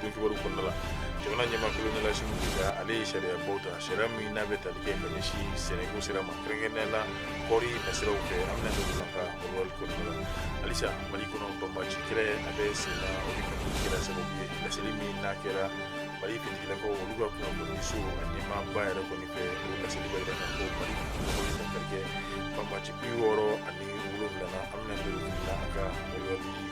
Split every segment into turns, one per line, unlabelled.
don kibaru kɔnɔna la jamana ɲɛmaa kolonɛli asimi goyita ale ye sariya baw ta sariya min n'a bɛ tali kɛ ka ɲɛsin sɛnɛko sira ma kɛrɛnkɛrɛnnenya la kɔɔri nasiraw fɛ an bɛna don ka walwali kɔnɔna la halisa mali kɔnɔ banbaci kɛlɛ a bɛ senna o de kɔni kɛra sababu ye laseli min n'a kɛra mali finitigilakaw olu ka kunnafoniso a ɲɛmaaba yɛrɛ kɔni fɛ o laseli b'a jira k'a fɔ mali finitigilakaw ye dankari kɛ banbaci bi wɔɔrɔ ani wolonwula an bɛna don la a ka walwali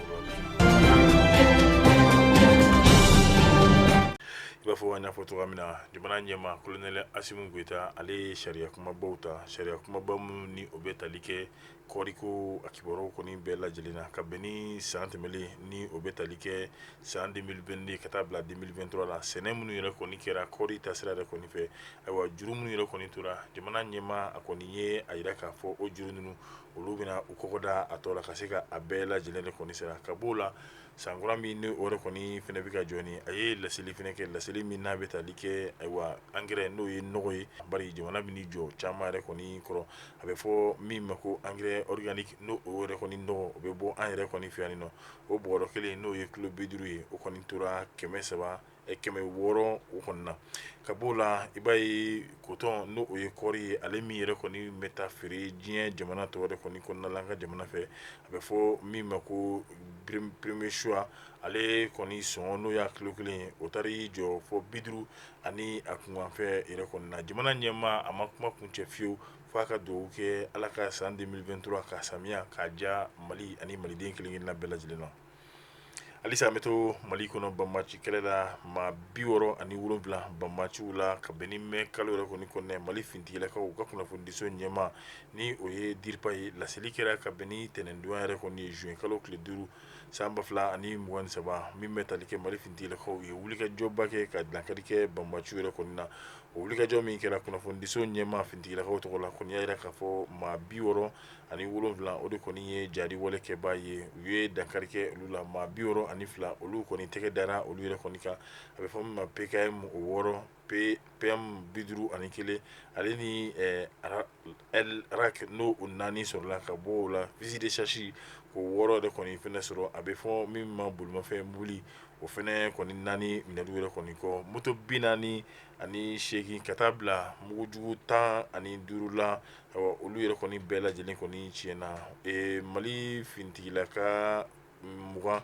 I b'a fɔ an y'a fɔ cogoya min na jamana ɲɛmaa kolonɛli asimi goyita ale ye sariya kumabaw ta sariya kumaba minnu ni o bɛ tali kɛ kɔɔriko a kibaruyaw kɔni bɛɛ lajɛlen na ka bɛn ni san tɛmɛlen ni o bɛ tali kɛ san 2022 ka taa bila 2023 la sɛnɛ minnu yɛrɛ kɔni kɛra kɔɔri taasira yɛrɛ kɔni fɛ ayiwa juru minnu yɛrɛ kɔni tora jamana ɲɛmaa a kɔni ye a jira k'a fɔ o juru ninnu olu bɛna u kɔgɔ da a tɔ la ka se ka a bɛɛ lajɛlen de kɔni sera ka b'o la san kura min ni o yɛrɛ kɔni fɛnɛ bɛ ka jɔ ni a ye laseli fɛnɛ kɛ laseli min n'a bɛ tali kɛ ayiwa angɛrɛ n'o ye nɔgɔ ye bari jamana bɛn'i jɔ caman yɛrɛ kɔni kɔrɔ a bɛ fɔ min ma ko angɛrɛ organique n'o o yɛrɛ kɔni nɔgɔ o bɛ bɔ an yɛrɛ kɔni fɛ yanni nɔ o bɔrɔ kelen n'o ye kilo bi duuru ye o kɔni tora kɛmɛ saba kɛmɛ wɔɔrɔ o kɔni na ka b'o la i b'a ye kotɔn n'o o ye kɔɔri ye ale min yɛrɛ kɔni bɛ taa feere diɲɛ jamana tɔw yɛrɛ kɔni kɔnɔna la an ka jamana fɛ a bɛ fɔ min ma ko premier choix ale kɔni sɔngɔ n'o y'a kilo kelen ye o taar'i jɔ fo bi duuru ani a kunkanfɛn yɛrɛ kɔni na jamana ɲɛmaa a ma kuma kuncɛ fiyewu fo a ka dugawu kɛ ala ka san 2023 ka samiya k'a diya mali ani maliden kelen-kelenna bɛɛ lajɛlen na halisa an bɛ to mali kɔnɔ banbaci kɛlɛ la maa bi wɔɔrɔ ani wolonwula banbaciw la ka bɛn ni mɛ kalo yɛrɛ kɔni kɔnɔ mali finitigilakaw u ka kunnafonidiso ɲɛmaa ni o ye DIRPA ye laseli kɛra ka bɛn ni ntɛnɛndon yɛrɛ kɔni ye zuwɛn kalo tile duuru san ba fila ani mugan ni saba min bɛ tali kɛ mali finitigilakaw ye wulikajɔba kɛ ka dankari kɛ banbaciw yɛrɛ kɔni na o wulikajɔ min kɛra kunnafonidiso ɲɛmaa finitigilakaw tɔgɔ la kɔni y'a jira k'a fɔ maa bi wɔɔrɔ ani wolonwula o de kɔni ye jari walekɛbaa ye u ye dankari kɛ olu la maa bi wɔɔrɔ ani fila olu kɔni tɛgɛ dara olu yɛrɛ kɔni kan a bɛ fɔ min ma PKM o wɔɔrɔ PM bi duuru ani kelen ale ni araki n'o o naani sɔrɔla ka bɔ o la fusil de chasse o wɔɔrɔ de kɔni fɛnɛ sɔrɔ a bɛ fɔ min ma bolimafɛn mobili o fɛnɛ kɔni naani minɛli yɛrɛ kɔni kɔ moto bi naani ani seegin ka taa bila mugujugu tan ani duuru la Olu yɛrɛ kɔni bɛɛ lajɛlen kɔni tiɲɛna mali finitigilaka mugan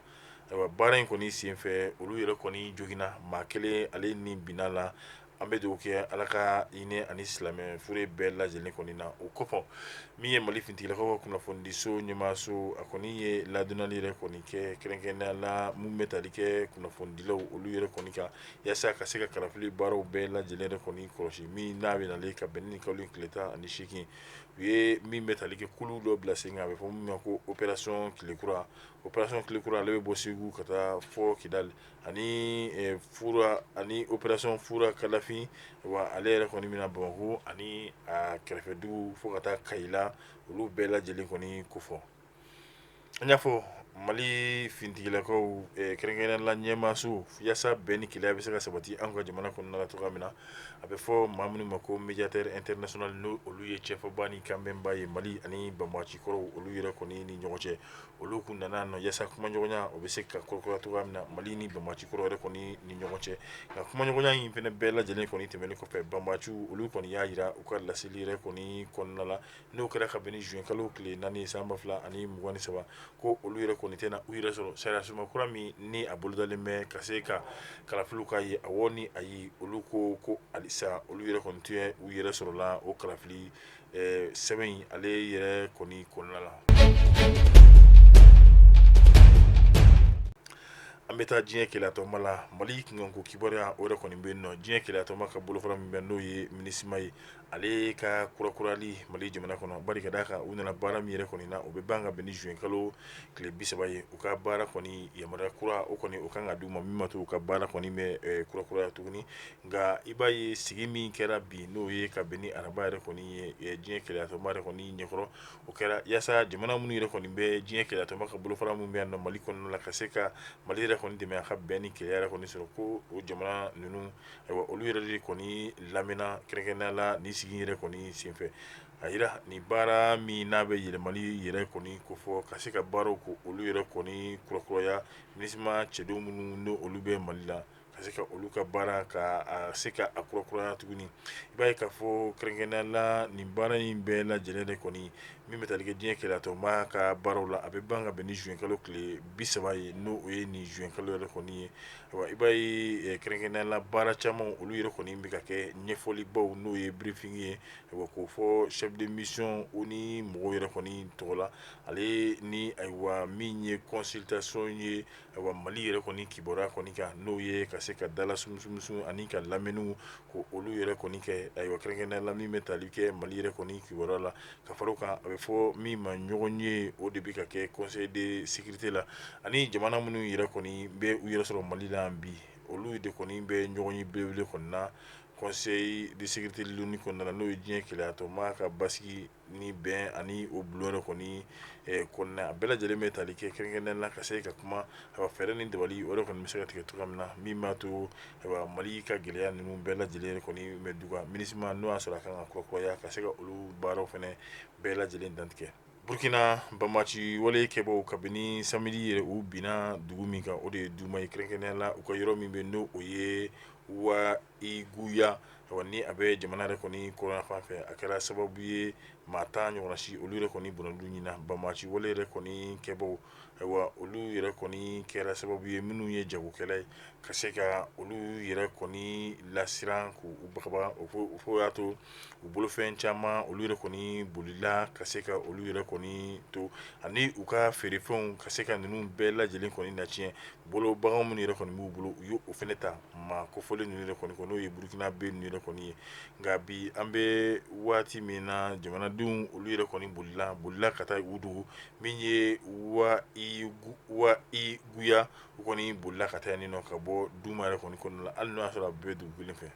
baara in kɔni senfɛ olu yɛrɛ kɔni joginna maa kelen ale ni binna la an bɛ dugawu kɛ ala ka hinɛ a ni silamɛ fure bɛɛ lajɛlen kɔni na o kɔfɛ min ye mali finitigilakaw ka kunnafonidiso ɲɛmaaso a kɔni ye ladonnali yɛrɛ kɔni kɛ kɛrɛnkɛrɛnnenya la min bɛ tali kɛ kunnafonidilaw olu yɛrɛ kɔni kan yaasa ka se ka kalafili baaraw bɛɛ lajɛlen yɛrɛ kɔni kɔlɔsi min n'a bɛ nalen ka bɛn ni kalo tile tan ani seegin u ye min bɛ tali kɛ kulu dɔ bila sen kan a bɛ fɔ min ma ko opération tilekura opération tilekura ale bɛ bɔ Segu ka taa fo Kidali ani fura ani opération fura kalafin wa ale yɛrɛ kɔni bɛna Bamakɔ ani a kɛrɛfɛ dugu fo ka taa Kayi la olu bɛɛ lajɛlen kɔni kofɔ An y'a fɔ mali finitigilakaw kɛrɛnkɛrɛnnenya la ɲɛmaaso yaasa bɛn ni kelenya bɛ se ka sabati an ka jamana kɔnɔ na cogoya min na a bɛ fɔ maa minnu ma ko médiateur international n'olu ye cɛfɔba ni kanbɛnba ye mali ani banbaci kɔrɔw olu yɛrɛ kɔni ni ɲɔgɔn cɛ olu tun nana nɔ yaasa kumaɲɔgɔnya o bɛ se ka kurakura cogoya min na mali ni banbaci kɔrɔw yɛrɛ kɔni ni ɲɔgɔn cɛ nka kumaɲɔgɔnya in fana bɛɛ lajɛlen kɔni tɛmɛnen kɔfɛ banbaciw olu kɔni y'a jira u ka laseli yɛrɛ kɔni kɔnɔna la n'o kɛra ka bɛn ni juin kalo tile naani ye san ba fila ani mugan ni saba ko olu yɛrɛ kɔni tɛna u yɛrɛ sɔrɔ sariya sunba kura min ni a bolodalen bɛ ka se ka kalafiliw ka ye awɔ ni ayi olu ko ko halisa olu yɛrɛ kɔni tɛ u yɛrɛ sɔrɔ la o kalafili eh, sɛbɛn in ale yɛrɛ kɔni kɔnɔna la an bɛ taa diɲɛ kelenyatɔnba la mali kunkanko kibaruya o yɛrɛ kɔni bɛ yen nɔ diɲɛ kelenyatɔnba ka bolofara min bɛ n'o ye minisima ye ale ka kurakurali mali jamana kɔnɔ bari ka d'a kan u nana baara min yɛrɛ kɔni na o bɛ ban ka bɛn ni juin kalo tile bi saba ye u ka baara kɔni yamaruya kura o kɔni o kan ka di u ma min b'a to u ka baara kɔni bɛ ɛ kurakuraya tuguni nka i b'a ye sigi min kɛra bi n'o ye ka bɛn ni araba yɛrɛ kɔni ye ɛ diɲɛ kelenyatɔnba yɛrɛ kɔni ɲɛkɔrɔ o kɛra yaasa jamana minnu yɛrɛ kɔni bɛ diɲɛ kelenyatɔnba ka bolofara minnu bɛ yan nɔ mali kɔnɔna la ka se ka mali yɛrɛ kɔni dɛmɛ a ka bɛn ni kelenya yɛrɛ kɔni sɔrɔ ko o jamana ninnu olu yɛrɛ de kɔni lamɛnna kɛrɛnkɛrɛnnenya la nin sigi yɛrɛ kɔni senfɛ a jira nin baara min n'a bɛ yɛlɛmali yɛrɛ kɔni ko fɔ ka se ka baaraw ko olu yɛrɛ kɔni kurakuraya minisima cɛdenw minnu n'olu bɛ mali la ka se ka olu ka baara ka se ka a kurakuraya tuguni i b'a ye k'a fɔ kɛrɛnkɛrɛnnenya la nin baara in bɛɛ lajɛlen de kɔni min bɛ tali kɛ diɲɛ kelenyatɔnba ka baaraw la a bɛ ban ka bɛn ni juin kalo tile bi saba ye n'o ye nin juin kalo yɛrɛ kɔni ye I b'a ye kɛrɛnkɛrɛnnenya la baara caman olu yɛrɛ kɔni bɛ ka kɛ ɲɛfɔli baw n'o ye briefing ye k'o fɔ chef de mission u ni mɔgɔw yɛrɛ kɔni tɔgɔ la ale ni ayiwa min ye consultation ye ayiwa Mali yɛrɛ kɔni kibaruya kɔni kan n'o ye ka se ka dala sumusumu ani ka lamɛnniw ko olu yɛrɛ kɔni kɛ ayiwa kɛrɛnkɛrɛnnenya la min bɛ tali kɛ Mali yɛrɛ kɔni kibaruya la ka fara o kan a bɛ fɔ min ma ɲɔgɔnye o de bɛ ka kɛ conseil de sécurité la ani jamana minnu yɛrɛ kɔni bɛ u yɛrɛ sɔrɔ mali la bi olu de kɔni bɛ ɲɔgɔnye belebele kɔnɔna na conseil de sécurité l'ONU kɔnɔna na n'o ye diɲɛ kelenyatɔnba ka basigi ni bɛn ani o bulon yɛrɛ kɔni kɔnɔna a bɛɛ lajɛlen bɛ tali kɛ kɛrɛnkɛrɛnnenya la ka se ka kuma a fɛɛrɛ ni dabali o kɔni bɛ se ka tigɛ cogoya min na min b'a to mali ka gɛlɛya ninnu bɛɛ lajɛlen kɔni bɛ dɔgɔya MINUSMA n'o y'a sɔrɔ a kan ka kurakuraya ka se ka olu baaraw fana bɛɛ lajɛlen dantigɛ burukina banbaganci wale kɛbaaw kabini samedi yɛrɛ u binna dugu min kan o de ye duma ye kɛrɛnkɛrɛnnenya la u ka yɔrɔ min bɛ n'o o ye wahiguya ni a bɛ jamana yɛrɛ kɔni kɔrɔn fan fɛ a kɛra sababu ye maa tan ɲɔgɔnna si olu yɛrɛ kɔni bɔnɛna u nin na banbaganci wale yɛrɛ kɔni kɛbaaw ayiwa olu yɛrɛ kɔni kɛra sababu ye minnu ye jagokɛla ye ka se ka olu yɛrɛ kɔni lasiran k'u bagabaga fo y'a to u bolofɛn caman olu yɛrɛ kɔni bolila ka se ka olu yɛrɛ kɔni to ani u ka feerefɛnw ka se ka ninnu bɛɛ lajɛlen kɔni natiɲɛ bolo bagan minnu yɛrɛ kɔni b'u bolo u y'o fana ta maa kofɔlen ninnu yɛrɛ kɔni n'o ye burukinabɛ ninnu yɛrɛ kɔni ye nka bi an bɛ waati min na jamanadenw olu yɛrɛ kɔni bolila bolila ka taa u dogo min ye wa wahiguya u kɔni bolila ka taa yen nɔ ka bɔ duma yɛrɛ kɔni kɔnɔna la hali n'o y'a sɔrɔ a bɛɛ dugu kelen fɛ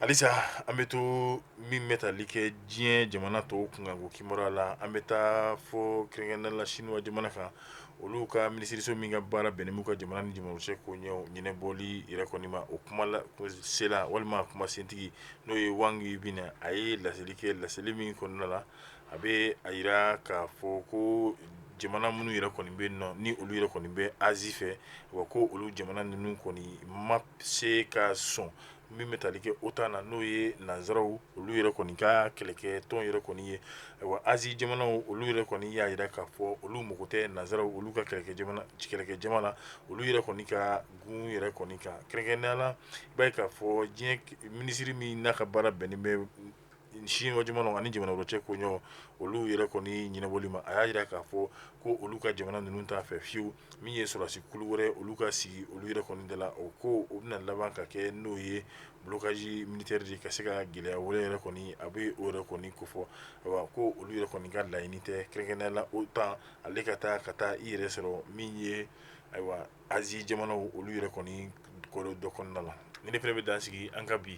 halisa an bɛ to min bɛ tali kɛ diɲɛ jamana tɔw kunkanko kibaruya la an bɛ taa fɔ kɛrɛnkɛrɛnnenya la siniwa jamana kan olu ka minisiriso min ka baara bɛnnen b'u ka jamana ni jamanaw cɛ ko ɲɛ ɲɛnɛbɔli yɛrɛ kɔni ma o kuma sela walima a kuma sentigi n'o ye Wang Wenbin a ye laseli kɛ laseli min kɔnɔna la a bɛ a jira k'a fɔ ko jamana minnu yɛrɛ kɔni bɛ nɔ ni olu yɛrɛ kɔni bɛ Asie fɛ wa ko olu jamana ninnu kɔni ma se ka sɔn min bɛ tali kɛ OTAN na n'o ye nansaraw olu yɛrɛ kɔni ka kɛlɛkɛ tɔn yɛrɛ kɔni ye ayiwa Asie jamanaw olu yɛrɛ kɔni y'a jira k'a fɔ olu mago tɛ nansaraw olu ka kɛlɛkɛ jamana kɛlɛkɛ jama la olu yɛrɛ kɔni ka gun yɛrɛ kɔni kan kɛrɛnkɛrɛnnenya la i b'a ye k'a fɔ diɲɛ minisiri min n'a ka baara bɛnnen bɛ siniwa jamana ani jamana wɛrɛ cɛ koɲɛw olu yɛrɛ kɔni ɲɛnabɔli ma a y'a jira k'a fɔ ko olu ka jamana ninnu t'a fɛ fiyewu min ye sɔrɔdasi kulu wɛrɛ olu ka sigi olu yɛrɛ kɔni da la o ko o bɛna laban ka kɛ n'o ye blocage militaire de ka se ka gɛlɛya wɛrɛ yɛrɛ kɔni a bɛ o yɛrɛ kɔni kofɔ wa ko olu yɛrɛ kɔni ka laɲini tɛ kɛrɛnkɛrɛnnenya la otan ale ka taa ka taa i yɛrɛ sɔrɔ min ye ayiwa azi jamanaw olu yɛrɛ kɔni dɔ kɔnɔna la ni ne fana bɛ dan sigi an ka bi